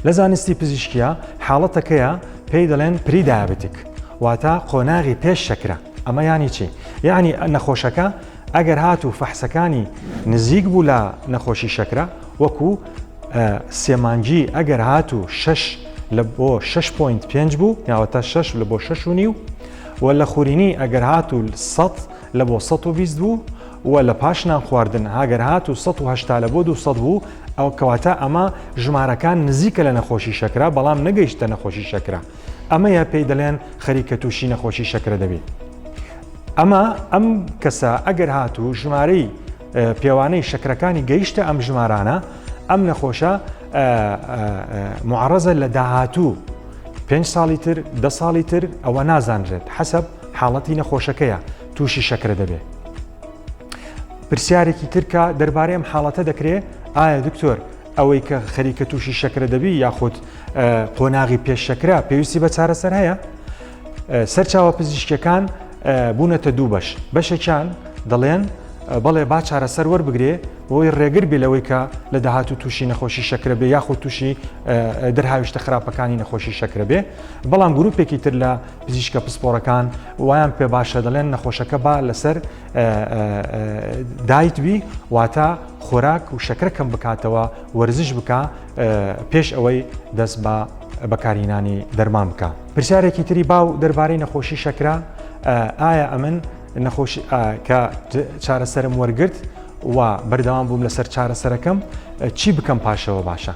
لە زانستی پزیشکیا حاڵەتەکەیە پێی دەڵێن پری دایابتیک واتە قۆناغی پێش شەکرە ئەمە ینی چی یعنی نەخۆشەکە ئەگەر هات و فەحسەکانی نزیک بوو لە نەخۆشی شەکرە وەکو سێمانجی ئەگەر هات و شش لە بۆ 6.5 بوو یاوەتە 6 لە بۆ 6 و نیو و لە خورینی ئەگەر هات و 100 لە بۆ 120 بوو و لە پاش نان خواردن هاگەر هات و 1970 لە بۆ 200 بوو ئەوە کەواتە ئەمە ژمارەکان نزیکە لە نەخۆشی شەکرە بەڵام نەگەیشتە نەخۆشی شەکرە ئەمەیە پێی دەڵێن خەریکە تووشی نەخۆشی شەکرە دەبێت ئەمە ئەم کەسە ئەگەر هاتوو ژمارەی پێوانەی شەکرەکانی گەیشتە ئەم ژمارانە ئەم نەخۆشە معڕزە لە داهاتوو پێنج ساڵی تر دە ساڵی تر ئەوە نازانرێت حەسب حاڵەتی نەخۆشەکەیە تووشی شەکرە دەبێت پرسیارێکی تر کە دەربارەی ئەم حاڵەتە دەکرێ ئایا دکتۆر ئەوەی کە خەریکە تووشی شەکرە دەبی یاخود قۆناغی پێش شەکرا پێویستی بە چارەسەر هەیە سەرچاوە پزیشکەکان بوونەتە دوو بەش بەشێکیان دەڵێن بەڵێ با چارەسەر وەربگرێ بۆی ڕێگر بێ لەوەی کە لە داهات و تووشی نەخۆشی شەکرە بێ یاخود تووشی دەرهاویشتە خراپەکانی نەخۆشی شەکرە بێ بەڵام گروپێکی تر لە پزیشکە پسپۆرەکان وایان پێ باشە دەڵێن نەخۆشەکە با لەسەر دایت بی واتە خۆراک و شەکرە کەم بکاتەوە وەرزش بکە پێش ئەوەی دەست بە بەکارینانی دەرمان بکە پرسیارێکی تری باو دەربارەی نەخۆشی شەکرا ئایا ئەمن نەخۆش کە چارەسەرم وەرگرت و بەردەوام بووم لەسەر چارەسەرەکەم چی بکەم پاشەوە باشە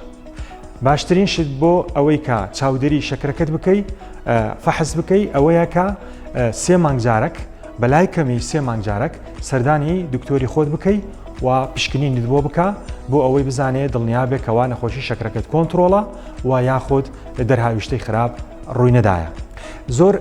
باشترین شت بۆ ئەوەی کە چاودێری شەکرەکەت بکەی فەحز بکەی ئەوەیە کە سێ مانگجارەک بەلای کەمی سێ مانگجارەک سەردانی دکتۆری خۆت بکەی و پشکنین بۆ بکە بۆ ئەوەی بزانێت دڵنیابێکەوە نەخۆشی شەکرەکەت کۆنتترۆڵە و یاخود دەرهاویشتەی خراپ ڕووی نەدایە زۆر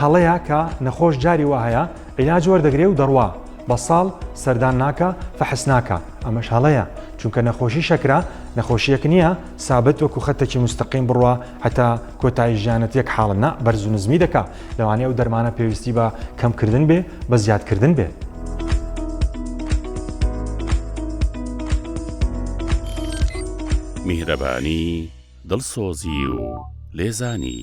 هەڵەیە کە نەخۆش جاری وهەیە عیلاج وەردەگرێ و دەڕوا بە ساڵ سەردان ناکا فەحس ناکا ئەمەش هەڵەیە چونکە نەخۆشی شەکرە نەخۆشیەک نییە سابت وەکو خەتەکی مستەقیم بڕوا هەتا کۆتایی ژیانەت یەک حاڵە نا بەرز و نزمی دەکا لەوانەیە ئەو دەرمانە پێویستی بە کەمکردن بێ بە زیادکردن بێ. میهرەبانی، دڵسۆزی و لێزانی.